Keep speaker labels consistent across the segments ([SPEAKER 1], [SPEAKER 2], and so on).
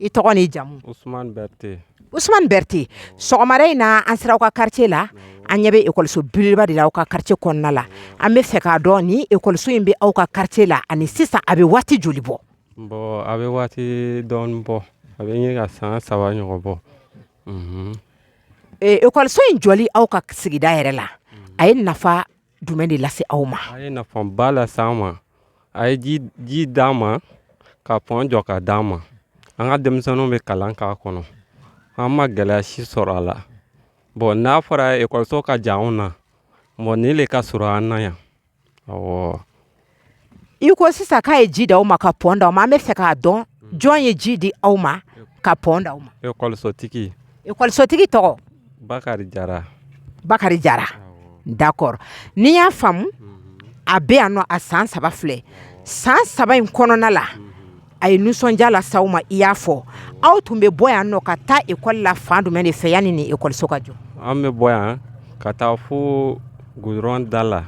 [SPEAKER 1] i tɔgɔ ni jamu usumani berete sɔgɔmada in na an sera aw ka kariti la an ɲɛ bɛ ekɔliso belebeleba de la aw ka kariti kɔnɔna la an bɛ fɛ k'a dɔn ni ekɔliso in bɛ aw ka kariti la ani sisan a bɛ waati joli bɔ a bɛ waati dɔn bɔ a bɛ ka san saba ɲɔgɔn bɔ ekɔliso in jɔli aw ka sigida yɛrɛ la a ye nafa jumɛn de lase aw ma a ye nafaba lase an ma a ye ji di an ma ka pɔn jɔ k'a di an ma an ka denmisɛnninw bɛ kalan k'a kɔnɔ an ma gɛlɛya si sɔrɔ a la bɔn n'a fɔra ekɔliso ka jan anw na bɔn nin de ka surun an na yan i ko sisan k'a ye ji di aw ma ka pɔn di aw ma an bɛ fɛ k'a dɔn jɔn ye ji di aw ma ka pɔn di aw ma ekɔlisotigi ekɔlisotigi tɔgɔ bakari jara bakari jara dakɔrɔ n'i y'a faamu a bɛ yan nɔ a san saba filɛ san saba in kɔnɔna la a ye nisɔndiya lase aw ma i y'a fɔ aw tun bɛ bɔ yan nɔ ka taa ekɔli la fan jumɛn de fɛ yanni nin ekɔliso ka jɔ an bɛ bɔ yan ka taa fo goudron da la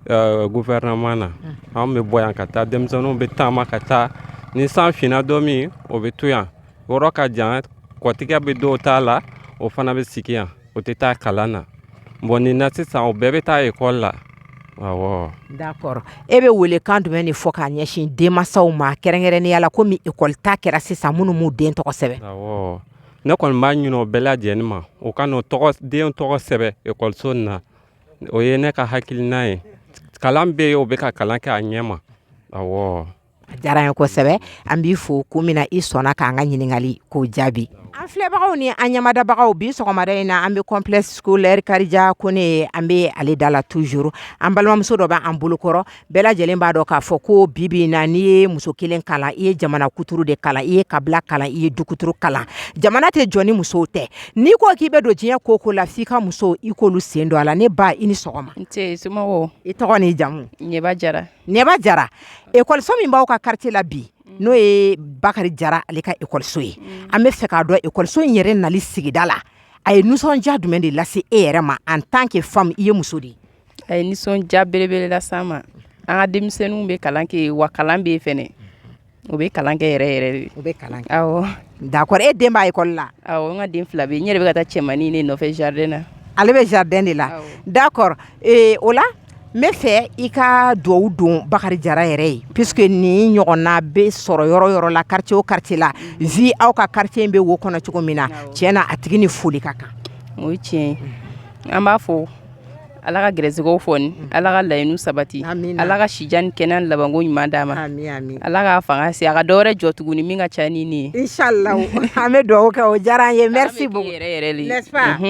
[SPEAKER 1] gofɛrɛnaman na an bɛ bɔ yan ka taa denmisɛnninw bɛ taama ka taa ni san finna don min o bɛ to yan yɔrɔ ka jan kɔtigɛ bɛ dɔw ta la o fana bɛ sigi yan o tɛ taa kalan na bon nin na sisan o bɛɛ bɛ taa ekɔli la kɔrɔ e bɛ welekan jumɛn de fɔ k'a ɲɛsin denmansaw ma kɛrɛnkɛrɛnya la ko ekɔli ta kɛra sisan minnu den tɔgɔ sɛbɛn ne kɔni b'a ɲinin o bɛɛ lajɛlen ma o ka den tɔgɔ sɛbɛn ekɔliso na O ye ne ka hakiliina ye kalan bɛ yen o bɛ ka kalan kɛ a ɲɛ ma a diyara n ye kosɛbɛ an b'i fo ko min na i sɔnna k'an ka ɲininkali ko jaabi an filɛbagaw ni an ɲamadabagaw bi sɔgɔmada in na an bɛ complexe scolaire karija kone an bɛ ale da la toujours an balimamuso dɔ bɛ an bolokɔrɔ Bɛɛ lajɛlen b'a dɔn k'a fɔ ko bibi na n'i ye muso kelen kalan i ye jamana kuturu de kalan i ye kabila kalan i ye du kuturu kalan jamana tɛ jɔ ni musow tɛ n'i ko k'i bɛ don diɲɛ ko o ko la f'i ka muso i k'olu sen don a la ne ba i ni sɔgɔma i tɔgɔ ni jamu jara jara ekɔliso min b'aw ka kariti la bi n'o ye bakari jara ale ka ekɔliso ye an bɛ fɛ k'a dɔn ekɔliso in yɛrɛ nali sigida la a ye nisɔndiya jumɛn de lase e yɛrɛ ma en tant que femme i ye muso de ye a ye nisɔndiya belebele lase an ma an ka denmisɛnninw bɛ kalan kɛ wa kalan bɛ fana u bɛ kalan kɛ yɛrɛ yɛrɛ de u bɛ kalan dakɔrɔ e den bɛ ekɔli la n ka den fila bɛ n yɛrɛ bɛ ka taa cɛmannin de nɔfɛ jardin na ale bɛ jardin de la dakɔrɔ o la n bɛ fɛ i ka dugawu don bakari jara yɛrɛ ye parce que nin ɲɔgɔnna bɛ sɔrɔ yɔrɔ yɔrɔ la kariti o kariti la vu aw ka kariti in bɛ o kɔnɔ cogo min na tiɲɛ na a tigi ni foli ka kan o tiɲɛ an b'a fo Ala ka gɛrɛsigɛ foni ala ka laɲini sabati ala ka sijan kɛnɛya labanko ɲuman d'a ma ala ka fanga se a ka dɔwɛrɛ jɔ tuguni min ka ca ni nin ye an bɛ dugawu kɛ o diyara an ye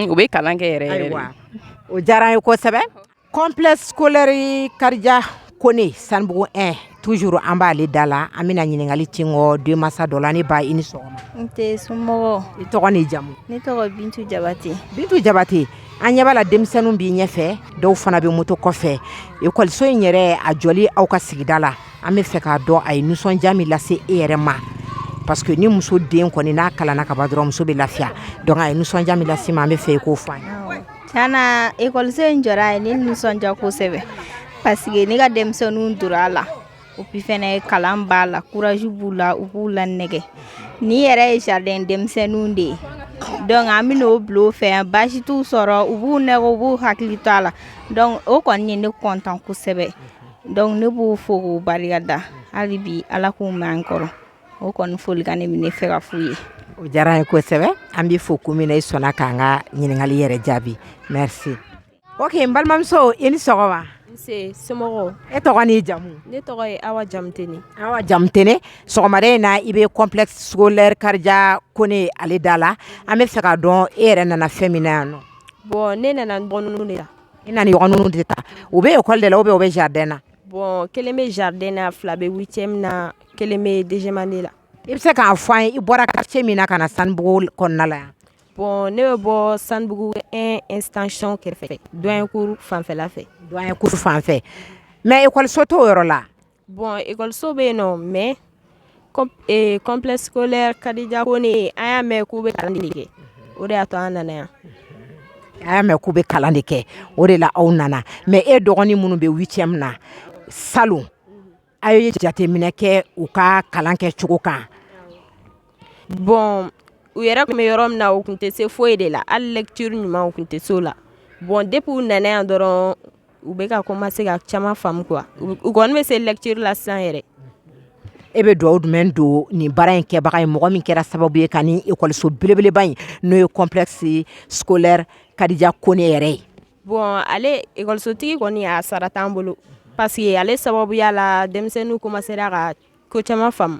[SPEAKER 1] u bɛ kalan kɛ yɛrɛ o diyara an ye kosɛbɛ complexe scolaire Karija Kɔnɛ sanbugu ɛ tuur an b'ale da la an bɛna ɲininkali kɛ ekɔliden masa dɔ la ne ba i ni sɔgɔma nse i tɔgɔ ni jamu ne tɔgɔ bintu jabate bintu jabate an ɲɛ b'a la denmisɛnninw b'i ɲɛfɛ dɔw fana bɛ moto kɔfɛ ekɔliso in yɛrɛ a jɔ aw ka sigida la an bɛ fɛ k'a dɔn a ye nisɔndiya min lase e yɛrɛ ma paseke ni muso den kɔni n'a kalan kaban dɔrɔn muso bɛ lafiya dɔnku a ye nisɔndiya min lase i ma an bɛ fɛ i k'o fɔ an ye Kana ekɔliso in jɔ ye ne nisɔndiya kosɛbɛ paseke ne ka denmisɛnnin donna a la u bɛ fana ye kalan ba la courage b'u la u b'u lanɛgɛn nin yɛrɛ ye jardin denmisɛnninw de ye dɔnku an b'u bila u fɛ baasi t'u sɔrɔ u b'u nɛgɛn u b'u hakili to u la o kɔni ye ne kɔntan kosɛbɛ dɔnku ne b'u fo k'u barika da hali bi ala k'u mɛɛn an kɔrɔ o kɔni folikan ne bɛ fɛ ka f'u ye o diyara n ye kosɛbɛ an b'i fo komi i sɔnna k'an ka ɲininkali yɛrɛ jaabi n se o n balimamuso i ni sɔgɔma e tɔgɔ ni jamu ne tɔgɔ ye Awa Jamutɛnɛ Awa Jamutɛnɛ sɔgɔmada in na i bɛ complexe scolaire Karija Kɔnɛ ale da la an bɛ fɛ k'a dɔn e yɛrɛ nana fɛn min yan nɔ bɔn ne nana bɔ de la i nana de ta u bɛ ekɔli la o bɛ u bɛ jardin na Bɔn kelen bɛ jardin na fila bɛ huitième na kelen bɛ deuxième année la i bɛ se k'a fɔ an ye i bɔra quartier min na ka na sanbugu kɔnɔna la yan bɔn ne bɛ bɔ sanbugu extension kɛrɛfɛ dɔnkuru fanfɛla fɛ dɔnkuru fanfɛ mɛ ekɔliso t'o yɔrɔ la bɔn ekɔliso bɛ yen nɔ mɛ complexe scolaire Kadija Kɔnɛ an y'a mɛn k'u bɛ kalan kɛ o de y'a to an nana yan a y'a mɛn k'u bɛ kalan de kɛ o de la aw nana mɛ e dɔgɔnin minnu bɛ huitième na salon aw ye jateminɛ kɛ u ka kalan kɛ cogo kan bɔn u yɛrɛ tun bɛ yɔrɔ min na u tun tɛ se foyi de la hali lɛtiri ɲuman tun tɛ se o la bɔn depuis u nana yan dɔrɔn u bɛ ka komanse ka caman faamu kuwa u kɔni bɛ se lɛtiri la san yɛrɛ e bɛ dugawu jumɛn don nin baara in kɛbaga ye mɔgɔ min kɛra sababu ye ka ekɔliso belebeleba in n'o ye complexe scolaire Kadija Kɔnɛ yɛrɛ ye bɔn ale ekɔlisotigi kɔni a sara t'an bolo paseke ale sababuya la denmisɛnninw komansera ka ko caman faamu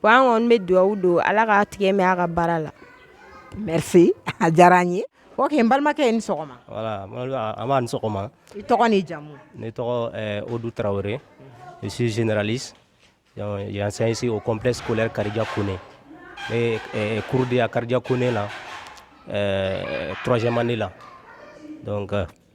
[SPEAKER 1] ko an kɔni bɛ dugawu don ala k ka tigɛ min a ka baara la a diyara an ye o ye balimakɛ in sɔgɔma jamu ne o du tarawele si zrli yansansi o copsi kari karidiya ko ne kurudiya kari ko ne la turazyɛnmadi la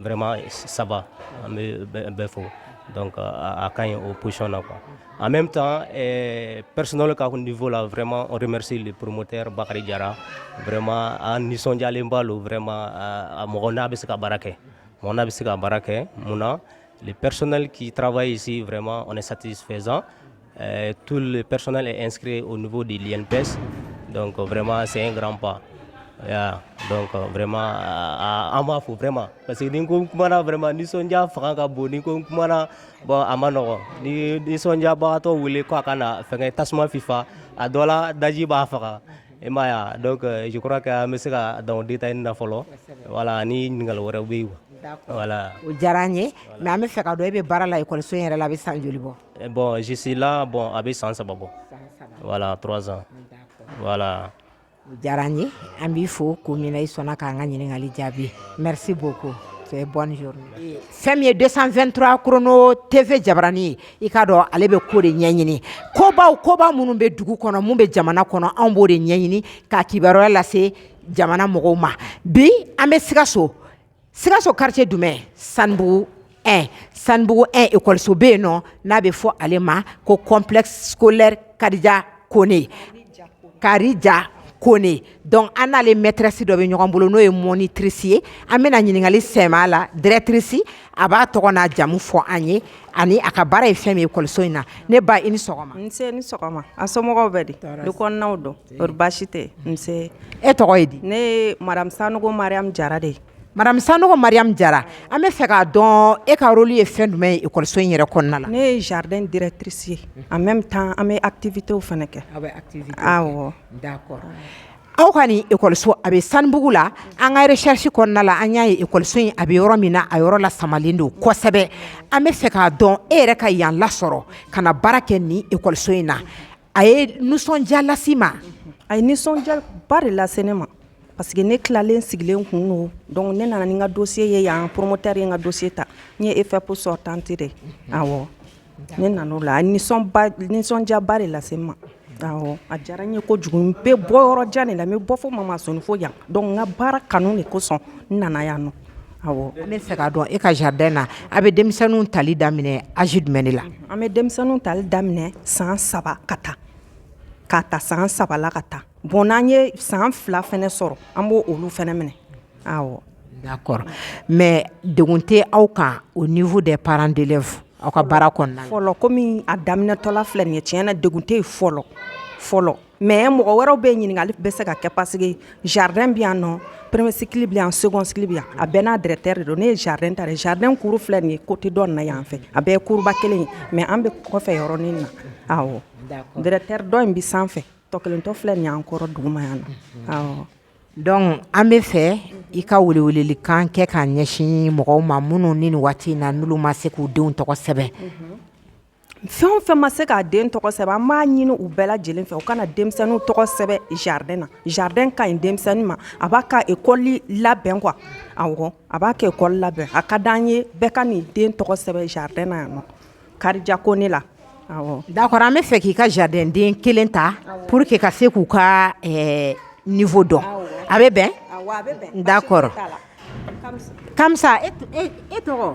[SPEAKER 1] Vraiment ça va an bɛ bɛɛ fo donc a ka ɲi o position na quoi en même temps ɛɛ personnel ka niveau la vraiment on remercie le promoteur Bakari Jara vraiment an nisɔndiyalenba don vraiment a mɔgɔ n'a bɛ se ka baara kɛ mɔgɔ n'a bɛ se ka baara kɛ mun na le personnel qui travaille ici vraiment on est satisfaisant Euh, tout le personnel est inscrit au niveau de l'INPS. Donc vraiment, c'est un grand pas. Yeah. donc euh, vraiment euh, an b'a fo vraiment parce que ni ko n kumana vraiment nisɔndiya fanga ka bon ni ko n kumana bon a man nɔgɔ ni nisɔndiyabagatɔ wele ko a ka na fɛngɛ tasuma fifa a dɔ la daji b'a faga i m'a ye donc euh, je crois que an bɛ se ka dan o détail na fɔlɔ voilà ni ɲininkali wɛrɛw bɛ yen voilà o diyara an ye mais an bɛ fɛ k'a dɔn e bɛ baara la ekɔliso in yɛrɛ la a bɛ san joli bɔ Eh, bon je suis là bon a bɛ san saba bɔ voilà trois ans voilà o diyara an ye an b'i fo ko min na i sɔnna k'an ka ɲininkali jaabi merci beaucoup et bonne journée fɛn min ye 223 chrono tv jabarani ye i k'a dɔn ale bɛ ko de ɲɛɲini kobaw koba minnu bɛ dugu kɔnɔ mun bɛ jamana kɔnɔ anw b'o de ɲɛɲini k'a kibaruya lase jamana mɔgɔw ma bi an bɛ sikaso sikaso quartier jumɛn sanubugu un sanubugu un ekɔliso bɛ yen nɔ n'a bɛ fɔ ale ma ko complexe scolaire karija kone karija kone donc an n'ale maîtresse dɔ bɛ ɲɔgɔn bolo n'o ye monitrice ye an bɛna ɲininkali sɛmɛ a la directrice a b'a tɔgɔ n'a jamu fɔ an ye ani a ka baara ye fɛn min ye ekɔliso in na ne ba i ni sɔgɔma nse i ni sɔgɔma a somɔgɔw bɛ di du kɔnɔnaw don baasi tɛ e tɔgɔ ye di ne ye madame sanɔgɔ mariyamu jara de madame sanɔgɔ mariyamu jara an bɛ fɛ k'a dɔn e ka rôle ye fɛn jumɛn ye ekɔliso in yɛrɛ kɔnɔna na ne ye jardin directrice ye an bɛ bɛ taa an bɛ activités fana kɛ aw ka nin ekɔliso a bɛ sanubugu la an ka recherche kɔnɔna la an y'a ye ekɔliso in a bɛ yɔrɔ min na a yɔrɔ lasamalen don kosɛbɛ an bɛ fɛ k'a dɔn e yɛrɛ ka yan lasɔrɔ ka na baara kɛ nin ekɔliso in na A ye nisɔndiya lase n ma a ye nisɔndiyaba de lase ne ma parce que ne tilalen sigilen tun don donc ne nana ni n ka dossier ye yan promoteur ye n ka dossier ta n ye EFEP sortante de ye, awɔ, ne nana o la a ye nisɔndiyaba de lase n ma, awɔ, a diyara n ye kojugu n bɛ bɔ yɔrɔ jan de la n bɛ bɔ fo Mamasoni fo yan donc n ka baara kanu de kosɔn n nana yan nɔ An bɛ fɛ k'a dɔn e ka jardin na a bɛ denmisɛnninw tali daminɛ âge jumɛn de la? an bɛ denmisɛnninw tali daminɛ san saba ka taa k'a ta san saba la ka taa bon n'an ye san fila fana sɔrɔ an b'olu fana minɛ awɔ d'accord mais degun tɛ aw kan au niveau des parents d'élèves aw ka baara kɔnɔna na fɔlɔ komi a daminɛtɔla filɛ nin ye tiɲɛ na degun tɛ yen fɔlɔ fɔlɔ mɛ mɔgɔ wɛrɛw bɛ ɲininkali bɛ se ka kɛ paseke jardin bɛ yan nɔ premier cycle bɛ yan second cycle bɛ yan a bɛɛ n'a directeur de don ne ye jardin ta jardin kuru filɛ nin ye kote dɔ na yan fɛ a bɛɛ kuruba kelen mɛ an bɛ kɔfɛ yɔrɔnin na awɔ directeur dɔ in bɛ sanfɛ tɔ kelen tɔ filɛ nin ye an kɔrɔ duguma yan na awɔ donc an bɛ fɛ i ka weleweleli kan kɛ k'a ɲɛsin mɔgɔw ma minnu nin waati in na olu ma se k'u denw tɔgɔ sɛbɛn fɛn o fɛn ma se k'a den tɔgɔ sɛbɛn an b'a ɲini u bɛɛ lajɛlen fɛ u ka na denmisɛnninw tɔgɔ sɛbɛn jardin na jardin ka ɲi denmisɛnnin ma a b'a ka ekɔli labɛn quoi awɔ a b'a ka ekɔli labɛn a ka d'an ye bɛɛ ka n'i den tɔgɔ sɛbɛn jardin na yan nɔ karija kone la awɔ d'accord an bɛ fɛ k'i ka jardin den kelen ta pour que ka se k'u ka eh, niveau dɔn a bɛ bɛn d'accord kamisa e tɔgɔ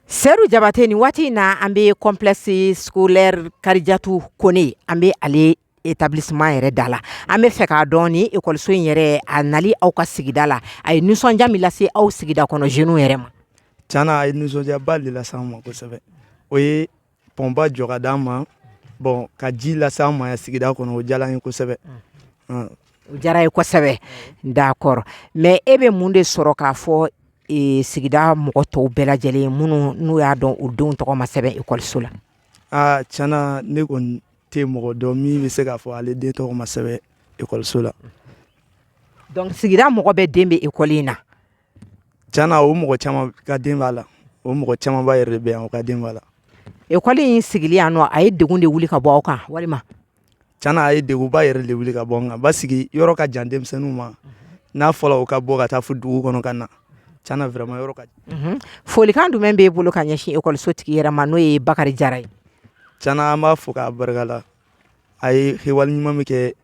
[SPEAKER 1] Seyidu jabatɛ nin waati in na an bɛ complexe scolaire karijatu kone an bɛ ale établissement yɛrɛ da la an bɛ fɛ k'a dɔn ekɔliso in yɛrɛ a nali aw ka sigida la a ye nisɔndiya min lase aw sigida kɔnɔ jeunes yɛrɛ ma ca a ye nisɔndiyaba de lase an ma kosɛbɛ o ye pɔnba jɔ ka d'an ma bɔn ka ji lase an ma yan sigida kɔnɔ o diyara an ye kosɛbɛ mm. o diyara an ye kosɛbɛ d'accord mɛ e bɛ mun de sɔrɔ k'a fɔ e, sigida mɔgɔ tɔw bɛɛ lajɛlen minnu n'u y'a dɔn u denw tɔgɔ ma sɛbɛn ekɔliso la aa tiɲɛ na ne kɔni tɛ mɔgɔ dɔn min bɛ se k'a fɔ ale den tɔgɔ ma sɛbɛn ekɔliso la donc sigida mɔgɔ bɛɛ den bɛ ekɔli in na Ca na o mɔgɔ caman ka den b'a la o mɔgɔ camanba yɛrɛ de bɛ yan o ka den b'a la ekɔli in sigilen yan nɔ a ye degun de wuli ka bɔ aw kan walima ca a ye degunba yɛrɛ de wuli ka bɔ an kan ba sigi yɔrɔ ka jan denmisɛnninw ma n'a fɔra u ka bɔ ka taa fo dugu kɔnɔ ka na ca a yɔrɔ ka jan folikan jumɛn b'i bolo ka ɲɛsin ekɔliso tigi yɛrɛ ma n'o ye bakari jara ye ca an b'a fo k'a barika la a ye wale ɲuman min kɛ